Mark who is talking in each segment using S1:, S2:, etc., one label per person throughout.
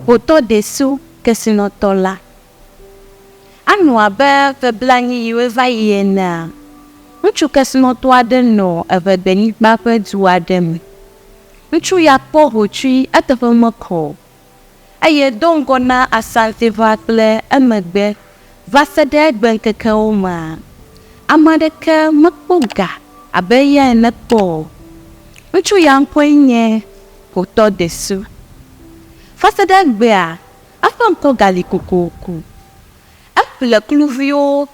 S1: Xotɔ ɖe so kesinɔtɔ la. Anɔ abe ƒe blaenyi yi woe va yi enea, ŋutsu kesinɔtɔ aɖe nɔ eŋegbenyigba ƒe du aɖe me. Ŋutsu ya kpɔ hotsui eteƒe mekɔ o. eye do ŋgɔ na Asanteʋa kple emegbe vaseɖe gbeŋkekewo mea, ame aɖeke mekpɔ ga abe eya ene kpɔ o. Ŋutsu ya ŋkɔe nye Kotɔ Desu. Vaseɖe egbea, eƒe ŋkɔ gali kokoko. Eƒle kluviwo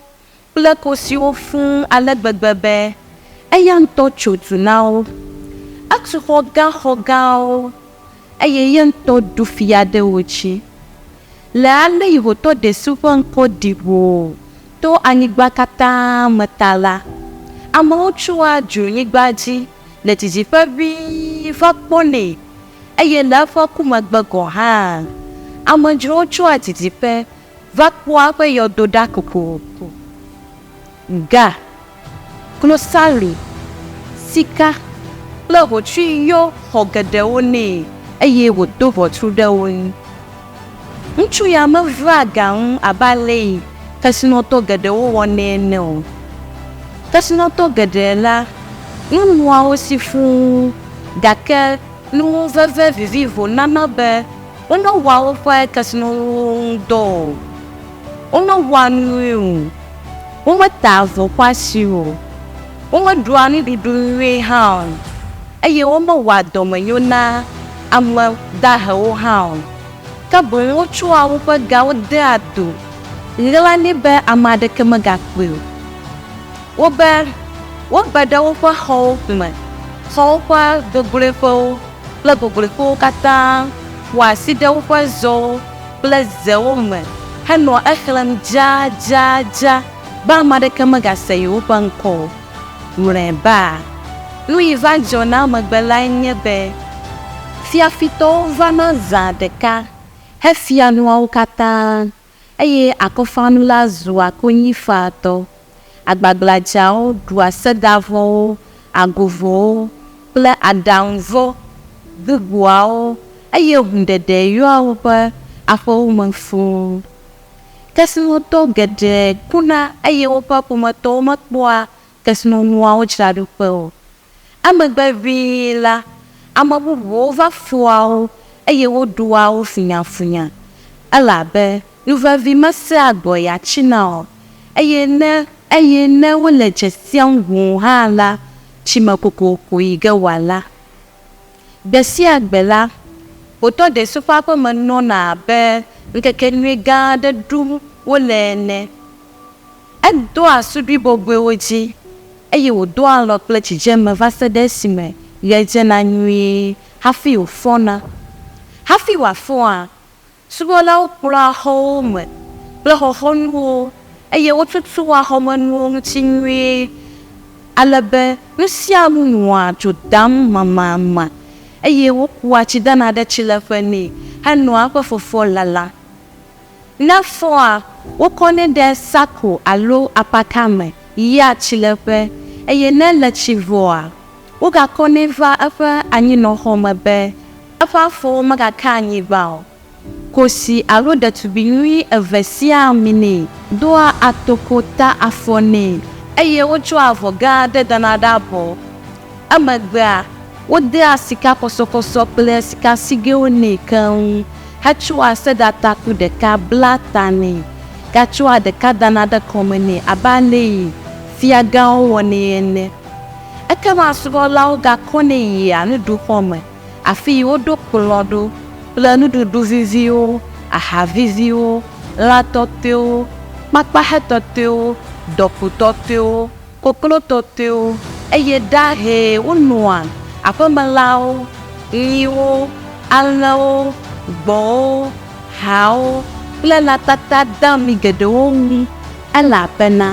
S1: kple kosiwo fũ ale gbegbe be eya ŋutɔ tso du na wo. Etu xɔ gã xɔ gãwo, eye ye ŋutɔ ɖu fia ɖe wo dzi. Le ale Yihotɔ ɖe si ƒe ŋkɔ ɖi ʋoo to anyigba katã me ta la, amewo tsoa dzronyigba dzi le didiƒe ʋĩi va kpɔnɛ, eye le eƒe ku megbe gɔ̃ hã, amedzrowo tsoa didiƒe Va kpɔa eƒe yɔdo ɖa kokoko. Ga, klosali, sika kple hotsui yɔ xɔ geɖewo nɛ eye wòdo ʋɔtru ɖe wo ŋu. Ŋutsu ya mevea ga ŋu abe alesi kesinɔtɔ geɖewo wɔnɛ ene o. Kesinɔtɔ geɖe la, nu nɔa wo si fũu, gake nuŋuveve vivivo nana be Womewɔa woƒe kesinɔnuwo ŋu dɔ o, womewɔa nu nyui o, wometaa avɔ xɔasi o, womeɖua nuɖuɖu nyui hã o, eye womewɔa dɔmenyo na ame dahewo hã o, ke boŋ wotsɔa woƒe gawo dea to ɣlani be ame aɖeke megakpɔe o. Wobe, wobe ɖe woƒe xɔwo me, xɔwo ƒe gogloeƒewo. kple gogloƒewo katã ƒoa asi ɖe woƒe zɔwo kple zewo me henɔa exlẽm dzadzadza be ame aɖeke megase yewoƒe ŋkɔ o. Mlɔeba, nu yi va dzɔ na emegbe lae nye be fiafitɔwo vana zã ɖeka hefia nua wo katã. Eye akɔfanu la zua konyifaatɔ. Agbagbladzawo ɖua sedavɔwo, agovɔwo, kple aɖaŋuvɔ gbogboawo, eye hũɖeɖe yɔa woƒe aƒewo me fũu. Kesinɔtɔ geɖe kuna eye woƒe ƒometɔwo mekpɔa kesinɔnuawo dzraɖoƒe o. Emegbe ʋĩi la, ame bubuwo va fua wo, eye woɖua wo funyafunya, elabe nu vevi mesea gbɔ ya tsina o, eye ne, eye ne wole dze siam ŋu hã la, tsi me kokoko yi ge wòala. Gbe sia gbe la, Kpotɔ Desu ƒe aƒe me nɔna abe ŋkekenyui gã aɖe ɖum wole ene. Edoa suɖui bɔbɔewo dzi, eye wòdoa alɔ kple dzidzeme va se ɖe esime ɣe dzena nyuie hafi wòfɔna. Hafi wòafɔa, subɔlawo kplɔa xɔwo me kple xɔxɔnuwo, eye wotutua xɔmenuwo ŋuti nyuie ale be nu sia nu nɔa dzo dam mamama, eye wokua tsidana ɖe tsileƒe nɛ henɔa eƒe fɔfɔ lalam. Ne fɔa, wokɔnɛ ɖe sako alo apaka me yia tsileƒe, eye ne le tsi vɔa, wogakɔnɛ va eƒe anyinɔxɔ me be eƒe afɔwo megaka anyigba o. Kosi alo ɖetugbi nyui eve siaa minɛ, doa atokota afɔ nɛ, eye wotsɔa avɔ gã aɖe dana ɖe abɔ. Emegbea, wodea sikakɔsɔkɔsɔ kple sikasigɛwo nɛ keŋ hetsɔa seɖatakpu ɖeka blaa ta nɛ, gatsɔa ɖeka dana ɖe kɔme nɛ abe alesi fiagãwo wɔnɛ ene. Ekema subɔlawo gakɔnɛ yia nuɖuxɔ me, afii woɖo kplɔ̃ ɖo kple nuɖuɖu viviwo, aha viviwo, lã tɔtɔewo, kpakpahe tɔtɔewo, dɔkpo tɔtɔewo, koklo tɔtɔewo, eye ɖahe wonɔa aƒemelãwo, nyiwo, alẽwo, gbɔ̃wo, haawo kple lã tata dami geɖewo ŋu, elabena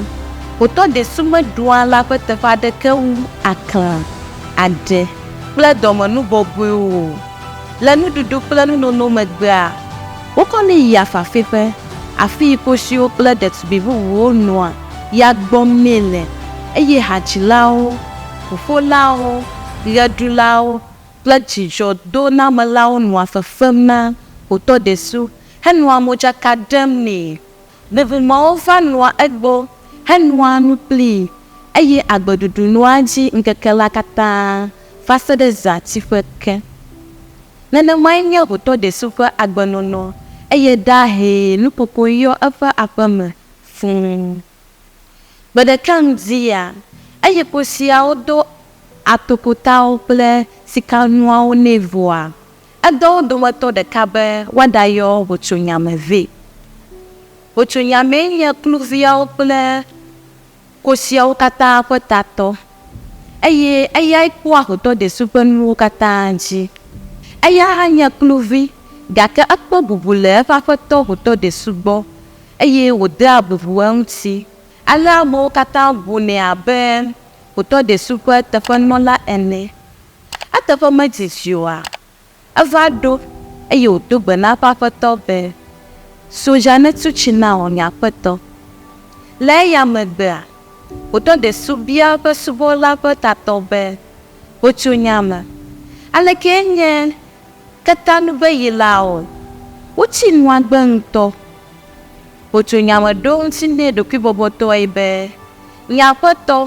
S1: xotɔ ɖe si meɖua lã ƒe teƒe aɖeke wu aklã, aɖe, kple dɔmenu bɔbɔewo o. Le nuɖuɖu kple nunono megbea, wokɔnɛ yia fafiƒe, afii kosiwo kple ɖetugbi bubuwo nɔa. ya gbɔ míele, eye hadzilawo, ʋuƒolawo, ɣeɖulawo, kple dzidzɔdonamelawo nɔa fefem na Kpotɔdesu henɔa modzaka ɖem nɛ. Bubumewo va nɔa egbɔ henoa nu kplii, eye agbeɖuɖu nɔa edzi ŋkeke la katã va se ɖe zãtiƒe ke. Nenemae nye Kpotɔdesu ƒe agbenɔnɔ, eye ɖahee nukoko yɔ eƒe aƒeme fũu. Gbe ɖeka ŋdi ya, Egipte fiawo do atokotawo kple sikanuawo nɛ vɔa, edɔ wo dometɔ ɖeka be woaɖayɔ hotsonyame vɛ. Hotsonyamee nye kluviawo kple. Kosiawo katã ƒe tatɔ, eye eyae kpɔa xotɔ desu ƒe nuwo katã dzi. Eya hã nye kluvi, gake ekpɔ bubu le eƒe aƒetɔ xotɔ desu gbɔ, eye wòdea bubu eŋuti. Ale amewo katã bunɛ abe xotɔ desu ƒe teƒenɔla ene. Eteƒe medidi oa? Eva ɖo, eye wòdo gbe na eƒe aƒetɔ be, So dza ne tu tsi nam, nye aƒetɔ. Le eya megbea, wòdɔ ɖe so bia eƒe subɔla ƒe tatɔ be, Ho tso nya me. Alekee nye ketanu be yi laɔ? Wotsi nu agbe ŋutɔ. Ho tso nya me ɖo ŋuti nɛ ɖokuibɔbɔtɔe be, Nye aƒetɔ,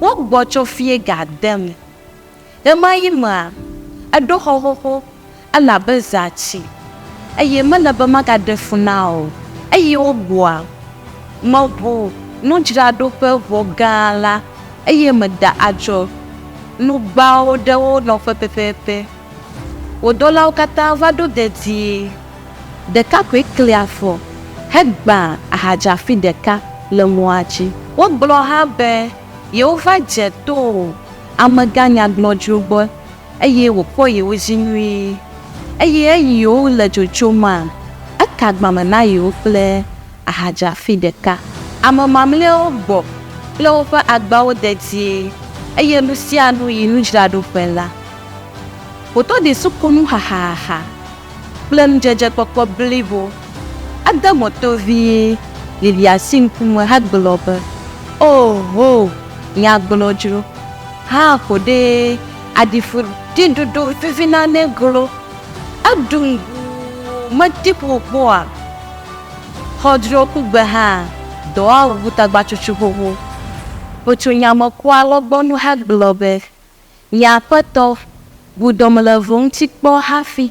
S1: wogbɔ tsɔ fiega dem. Ɣemaɣi mea, eɖo xɔ xoxo, ele abe zati, eye mele be magaɖe fu na o. Eyi wogua meʋu nudzraɖoƒe ʋɔ gã la, eye meda adzɔ nugbawo ɖe wo nɔƒe pɛpɛpɛ. Wò dɔlawo katã va ɖo dedie, ɖeka koe kli afɔ hegbã ahadzafi ɖeka le mɔa dzi. Wogblɔ hã be. Yehova dze to amegã nyagblɔɖiwo gbɔ eye wòkpɔ yewo dzi nyuie. Eye eyiwo le dzodzom ma, eka agbame na yewo kple ahadzafi ɖeka. Ame mamlɛawo gbɔ kple woƒe agbawo dedie, eye nu sia nu yi nudzraɖoƒe la wòtɔ de sukunu xaxaxa. kple nudzedzekpɔkpɔ blibo. Ede mo tovii Lilia si ŋkume hegblɔ be, Ooho, nya gblɔ dzro. Haa ko ɖee, aɖi fu ɖi ɖoɖo vevi na ne glo. Eɖu ŋu medi ƒo kpɔa xɔdro kugbe hã dɔa wu tagbatsutsu xoxo. Ƒotso nya me kua alɔgbɔnu hegblɔ be, Nye Aƒetɔ, bu dɔm le vo ŋuti kpɔ hafi.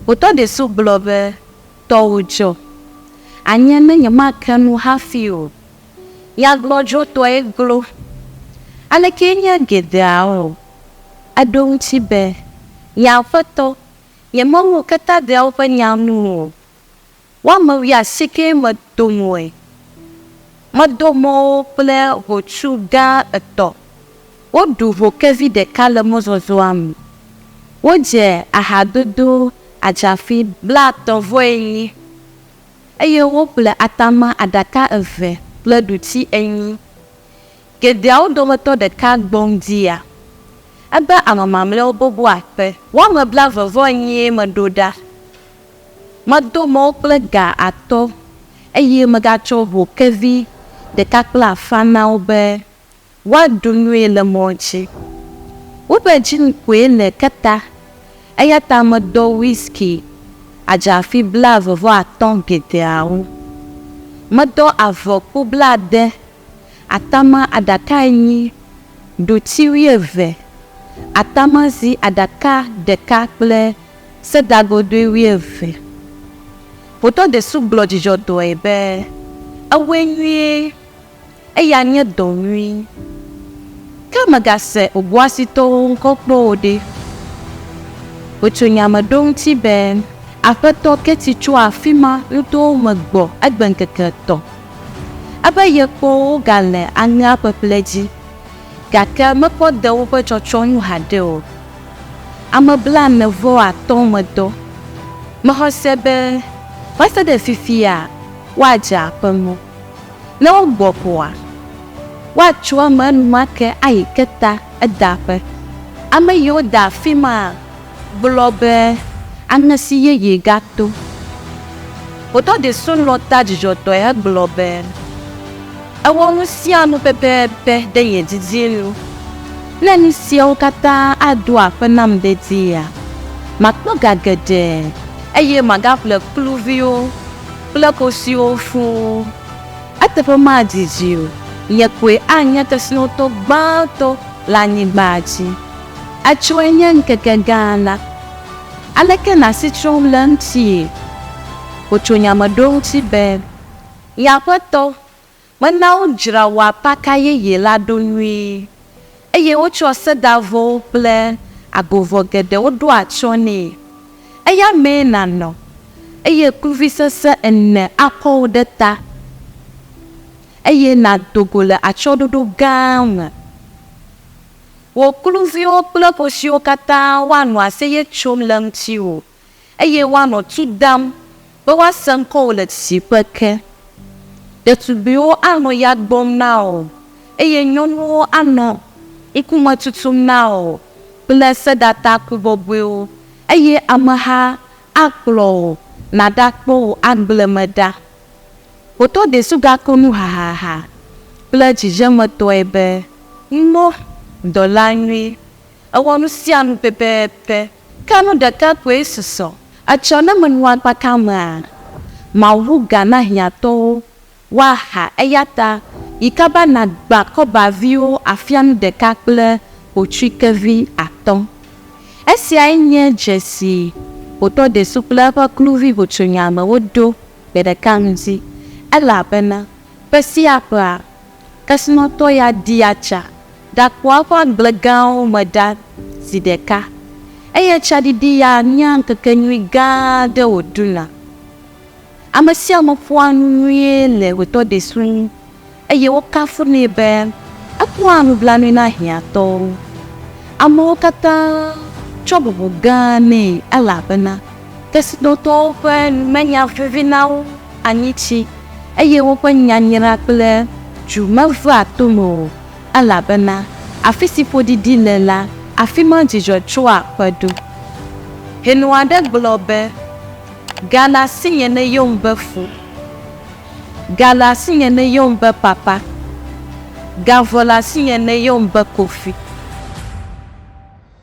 S1: Botɔ Desu gblɔ be, Tɔwò dzɔ. Anye ne nyemake nu hafi o. Nyagbɔdzɔtɔe glo. Alekee nye geɖeawo? Eɖo eŋuti be, Nye Aƒetɔ, nyemewɔ ketadeawo ƒe nya nu o. Woame wuiasikee medo moe. Medo mɔ wo kple hotu gã etɔ̃. Woɖu ho kevi ɖeka le mɔzɔzɔa me. Wodze ahadodo adzafi blaetɔ̃ vɔ enyi, eye woƒle atama aɖaka eve kple ɖuti enyi. Geɖeawo dometɔ ɖeka gbɔ ŋdia ebe ame mamlɛawo boboa kpe. Woame blaeve vɔ enyie meɖo ɖa. Medo mɔ kple ga atɔ, eye megatsɔ ʋukevi ɖeka kple afã na wo be woaɖu nui le mɔ dzi. Woƒe dzi koe le ke ta, eya ta medɔ whiskey adzafi blaeve vɔ atɔ̃ geɖeawo. Medɔ avɔkpo blaade, atama aɖaka enyi, ɖuti wuieve, atamazi aɖaka ɖeka kple Sedagodoe wuieve. Ƒotɔ Desu gblɔ dzidzɔtɔe be, Ewɔe nyuie! Eya nye dɔ nyui. Ke mègase Oboasitɔwo ŋkɔ kpɔ o ɖe? Wotso nya me ɖo eŋuti be, Aƒetɔ Ketty tso afi ma nutowo me gbɔ egbe ŋkeke etɔ̃. Ebe yekpɔ wo wogale aŋea ƒeƒle dzi, gake mekpɔ de woƒe tsɔtsɔ nu haɖe o. Ame blaene vɔ atɔ medɔ. Mexɔ se be va se ɖe fifia woadze aƒe mɔ. Ne wogbɔ ƒoa, woatso eme enumake ayi keta edaƒe. Ame yiwo da afima gblɔ be anesi yeye gato. Wodɔ ɖi sunlɔ ta dzidzɔtɔe hegblɔ be. Ewɔ nu sia nu pɛpɛpɛ ɖe ye didi nu. Ne nu siawo katã aɖo akpe nam dedie, makpɔ ga geɖe eye magaƒle kluviwo kple kosiwo fũ o. Eteƒe madidi dzi o, nye koe anye kesinɔtɔ gbãtɔ le anyigba dzi. Etsɔe nye ŋkeke gã la. Aleke nasi trɔm le eŋuti? Wotso nya me ɖo eŋuti be. Nye aƒetɔ, mena wodzra wò apaka yeye la ɖo nyuie, eye wotsɔ sedavɔwo kple agovɔ geɖewo ɖo atsyɔ̃ nɛ. Eya mee nànɔ, eye kluvi sesẽ ene akɔ wò ɖe ta, eye nàdo go le atsyɔ̃ɖoɖo gã me. Wò kluviwo kple kosiwo katã woanɔ aseye tsom le ŋutiwò. eye woanɔ tu dam be woase ŋkɔwò le tsitsiƒe ke. Ɖetugbiwo anɔ ya gbɔm na wò, eye nyɔnuwo anɔ ŋkume tutum na wò kple sedataku bɔbɔewo, eye ameha akplɔ wò nàɖakpɔ wò agble me ɖa. Wò tɔdesu gakɔ nu hahaha kple dzidzemetɔe be, Ŋmɔ, dɔla nyui, èwɔ nu sia nu pɛpɛpɛ! Ke nu ɖeka koe susɔ etsɔ ne menu akpaka amea, Mawu ʋu ga na hiãtɔwo woaha. Eyata yi ka be nàgbã kɔbaviwo afia nu ɖeka kple kotsuikevi atɔ̃? Esiae nye dze si hotɔ desu kple eƒe kluvi hotsonyamewo ɖo gbe ɖeka ŋdi, elabena ƒe sia ƒea, Kesinɔtɔ ya dia tsa ɖakpɔa eƒe agble gãwo me ɖa zi ɖeka, eye tsaɖiɖi ya nyea ŋkekenyui gã aɖe wòɖuna. Ame sia ame ƒoa nu nyuie le ɣetoɖesu ŋu, eye wokafunɛ be ekpɔa nublanui na hiãtɔwo. Amewo katã tsɔ bubu gã nɛ elabena Kesinɔtɔwo ƒe nu menya vevi na wo anyitsi, eye woƒe nyanyra kple dzu mevea tome o, elabena afi si ƒoɖiɖi le la, afi ma dzidzɔ tsoa ƒe ɖo. Hɛnɔ aɖe gblɔ be, Ga le asinye ne yom be fo. Ga le asinye ne yom be papa. Ga vɔ le asinye ne yom be kofi.